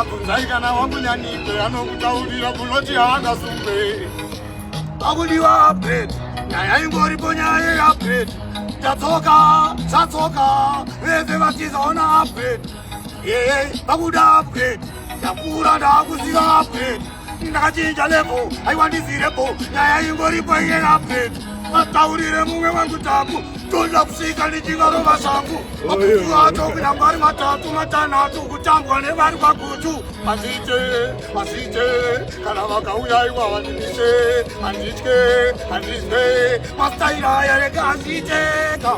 abvunzai kana wakunyanidze anokutaurira kunoti haangasungwe akudiwa update nyaya ingoripo nyaya yeupdate tatsoka tatsoka vese vatizaona update yeye vakuda update ndakura ndakuziva update ndakachinja levo aiwa ndizirepo nyaya ingoripo iye nape mataurire mumwe wangu taku toda kusvika ndichingarova zvangu makutu acho kuda mari matatu matanhatu kutambwa nevari kwagutu hazviite hazviite kana vakauya iwa vandiise handitye handizwe mastaira aya rega hazviiteka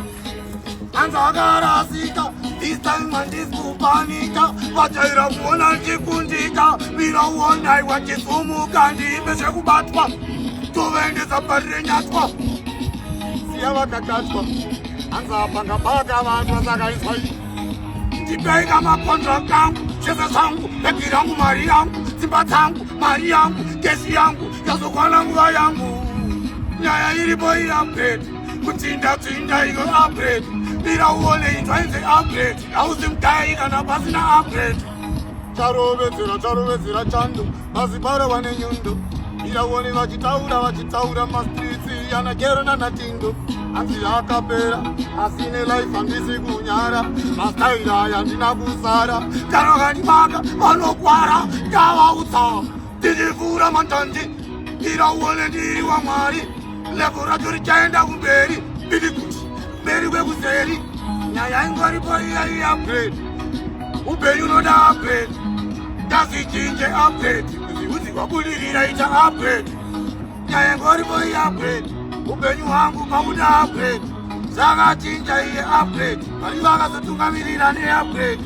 anza akarasika this time handisikupanika vajaira kuona ndichikundika mira uonai wachisumuka ndiimbe zvekubatwa tovaendesa parirenyatwa siya vakakatwa anza panga baka vanhu vasakaiswa ii ndipeika makontrakt angu zvese zvangu bhegi rangu mari yangu dzimba dzangu mari yangu gesi yangu yazokwana nguva yangu nyaya iripo iyapeta kutsinda tsinda iko upgrade bira uone into ainze upgrade hauzi mudai kana pasina upgrade charovedzera charovedzera chando mazibara wane nyundo bira uone vachitaura vachitaura mastritsi anagero nanatindo hanzi akapera asine life handisi kunyara mastaira yandina kusara kana kanimaka vanokwara ndavautsaa Ndinivura mantanzi Ndira uone ndiri wa mwari Levo racho richaenda kumberi Bidi kuti mberi kwekuseri Nyaya ingoripo iya iya upgrade Ubeni unoda upgrade Ndazi chinje upgrade Uzi wabudirira ita upgrade Nyaya ingoripo iya upgrade Ubeni wangu pamuda upgrade Saka chinja iye upgrade Mari vakazotungamirira ne upgrade